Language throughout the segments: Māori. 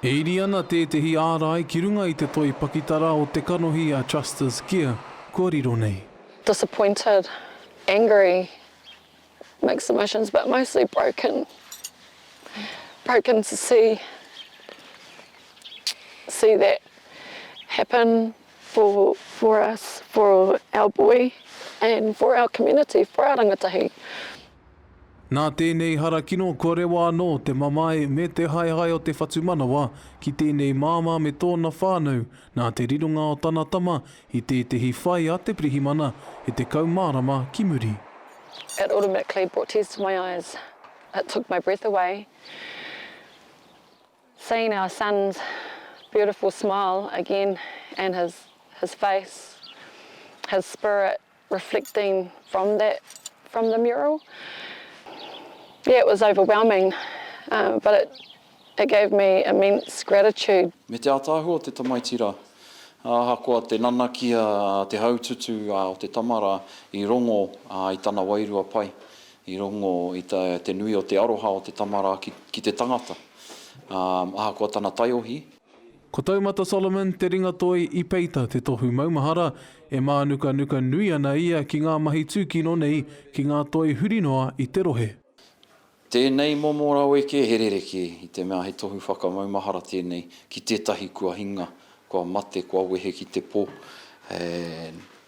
E iri ana tētehi ārai ki runga i te toi pakitara o te kanohi a Trusters Gear kua riro nei. Disappointed, angry, mixed emotions but mostly broken, broken to see see that happen for for us, for our boy and for our community, for our rangatahi. Nā tēnei harakino kua rewa anō te mamae me te haehae o te whatumanawa ki tēnei māmā me tōna whānau nā te rironga o tana tama i tētehi whai a te pirihimana e tekau marama ki muri. It automatically brought tears to my eyes, it took my breath away seeing our son's beautiful smile again and his his face, his spirit reflecting from that from the mural yeah it was overwhelming but it it gave me immense gratitude. Me te ātaahua o te tamaiti rā. Ahakoa te nanaki a te haututu o te tama rā, i rongo i tana wairua pai, i rongo i te nui o te aroha o te tama rā ki te tangata. Ahakoa tana taiohi, Ko Taumata Solomon te ringatoi i peita te tohu maumahara, e mānukanuka nui ana ia ki ngā mahi tūkino nei ki ngā toi huri noa i te rohe. Tēnei momo raweke he rerekē, i te mea he tohu whakamaumahara tēnei ki tētahi kua hinga, kua mate, kua wehe ki te pō,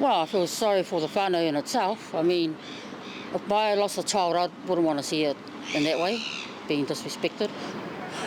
Well I feel sorry for the whanau in itself, I mean if I lost a child I wouldn't want to see it in that way, being disrespected.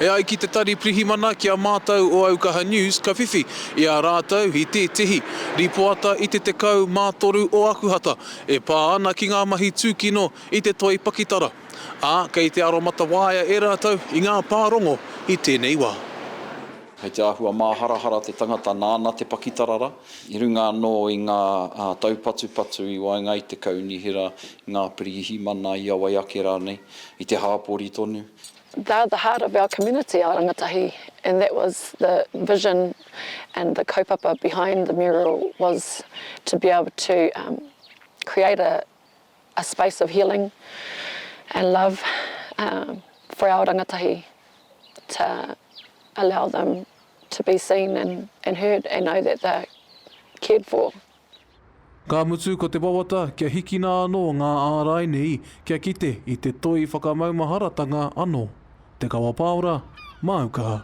E ai ki Te Tari Pirihimana ki a mātou o Aukaha News ka whiwhi i a rātou i tētehi rīpoata i te 13 o Akuhata e pā ana ki ngā mahi tūkino i te toi pakitara, ā, kei te aromatawaia e rātou i ngā pārongo i tēnei wā. Kei te āhua māharahara te tangata nāna te pakitara rā. i runga anō i ngā taupatupatu i waenga i te kaunihera, i ngā pirihimana, i a wai ake rānei, i te hāpori tonu. They are the heart of our community, our rangatahi, and that was the vision and the kaupapa behind the mural was to be able to create a a space of healing and love for our rangatahi to allow them to be seen and heard and know that they're cared for. Ka mutu ko te wawata kia hikina anō ngā ārai nei kia kite i te toi whakamaumaharatanga anō. Te Kawa Paora, Māu Kaha.